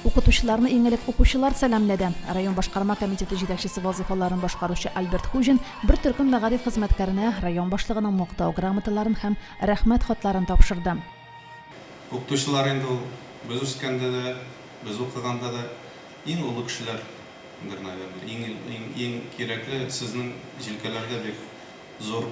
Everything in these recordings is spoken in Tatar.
Укытучыларны иң элек укучылар сәламләде. Район башкарма комитеты җитәкчесе вазыйфаларын башкаручы Альберт Хуҗин бер төркем мәгариф хезмәткәренә район башлыгының Мактау грамоталарын һәм Рәхмәт хатларын тапшырды. Укытучылар инде ул без үскәндә дә, без укыганда да иң олы кешеләрдер, наверное. Иң, иң, иң кирәкле сезнең җилкәләргә бик зур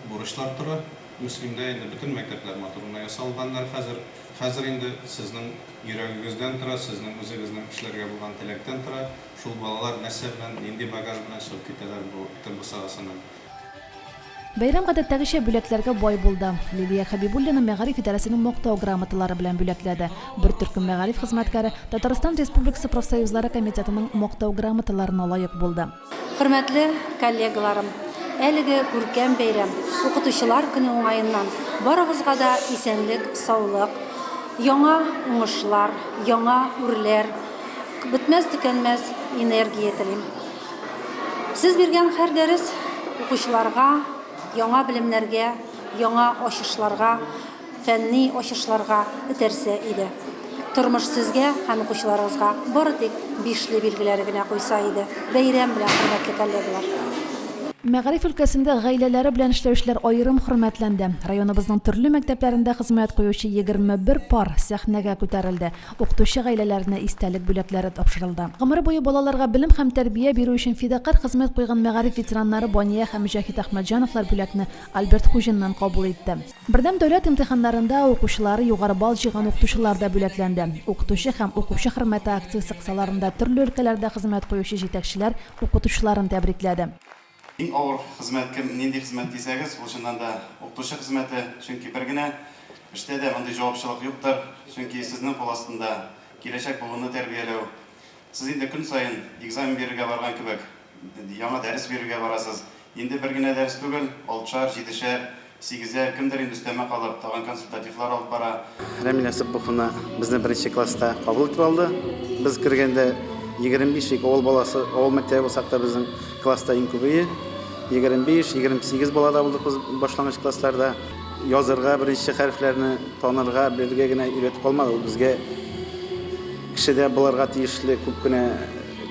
Бурычлар тора. Мөслимдә инде бөтен мәктәпләр матур гына ясалганнар хәзер. Хәзер инде сезнең йөрәгегездән тора, сезнең үзегезнең эшләргә булган теләктән тора, шул балалар нәрсә белән, нинди багаж белән чыгып китәләр бу Тел бусагасыннан. Бәйрәм гадәттәгечә бүләкләргә бай булды. Лилия Хәбибуллина мәгариф идарәсенең Мактау грамоталары белән бүләкләде. Бер төркем мәгариф хезмәткәре Татарстан Республикасы профсоюзлары комитетының Мактау грамоталарына лаек булды. Хөрмәтле коллегаларым, әлеге күркәм бәйрәм, Укытучылар көне уңаеннан, барыгызга да исәнлек, саулык, яңа уңышлар, яңа үрләр, бетмәс-төкәнмәс энергия телим. Сез биргән һәр дәрес укучыларга яңа белемнәргә, яңа ачышларга фәнни ачышларга этәрсә иде. Тормыш сезгә һәм укучыларыгызга бары тик бишле билгеләр генә куйса иде. Бәйрәм белән, хөрмәтле коллегалар! Мәгариф өлкәсендә гаиләләре белән эшләүчеләр аерым хөрмәтләнде. Районыбызның төрле мәктәпләрендә хезмәт куючы егерме бер пар сәхнәгә күтәрелде, укытучы гаиләләренә истәлек бүләкләре тапшырылды. Гомер буе балаларга белем һәм тәрбия бирү өчен фидакарь хезмәт куйган мәгариф ветераннары Бания һәм Мөҗәһит Әхмәтҗановлар бүләкне Альберт Хуҗиннан кабул итте. Бердәм дәүләт имтиханнарында укучылары югары балл җыйган укытучылар да бүләкләнде. Укытучы һәм укучы хөрмәте акциясе кысаларында төрле өлкәләрдә хезмәт куючы җитәкчеләр укытучыларын тәбрикләде. Иң авыр хезмәт кем, нинди хезмәт дисәгез, ул чыннан да укытучы хезмәте, чөнки бер генә эштә дә мондый җавапчылык юктыр, чөнки сезнең кул астында киләчәк буынны тәрбияләү. Сез инде көн саен экзамен бирергә барган кебек. Яңа дәрес бирергә барасыз. Инде бер генә дәрес түгел, алтышар, җидешәр, сигезәр, кемдер инде өстәмә калып, тагын консультативлар алып бара. Рәмилә Сыпбуховна безне беренче класста кабул итеп алды. Без кергәндә егерме биш ик авыл баласы, авыл мәктәбе булсак та безнең класста иң күбее, егерме биш, егерме сигез бала да булдык без башлангыч классларда. Язырга, беренче хәрефләрне танырга, белергә генә өйрәтеп калмады, ул безгә кешедә булырга тиешле күп кенә,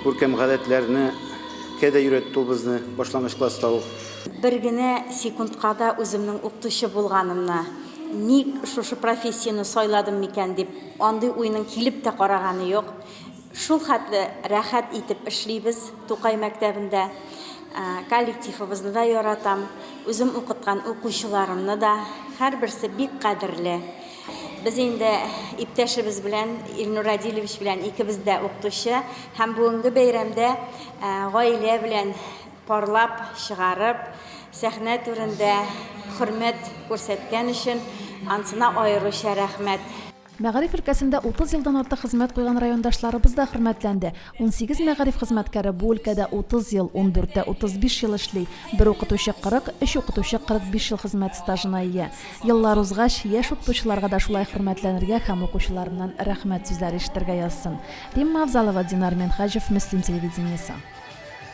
Күркәм гадәтләрне кә дә өйрәтте ул безне башлангыч класста ук. Бер генә секундка да үземнең укытучы булганымны, ник шушы профессияне сайладым микән дип, андый уйның килеп тә караганы юк. Шул хәтле рәхәт итеп эшлибез Тукай мәктәбендә. Коллективыбызны да яратам, үзем укыткан укучыларымны да. Һәрберсе бик кадерле. Без инде иптәшебез белән, Илнур Радилевич белән икебез дә укытучы һәм бүгенге бәйрәмдә гаилә белән парлап чыгарып, сәхнә түрендә хөрмәт күрсәткән өчен ансына аеруча рәхмәт. Мәгариф өлкәсендә 30 елдан артык хезмәт куйган райондашларыбыз да хөрмәтләнде. Унсигез мәгариф хезмәткәре бу өлкәдә 30 ел, ундүрте 35 ел эшли, бер укытучы 40, өч укытучы 45 ел хезмәт стажына ия. Еллар узгач, яшь укытучыларга да шулай хөрмәтләнергә һәм укучыларыннан рәхмәт сүзләре ишетергә язсын. Римма Авзалова, Динар Минһаҗев, Мөслим телевидениесе.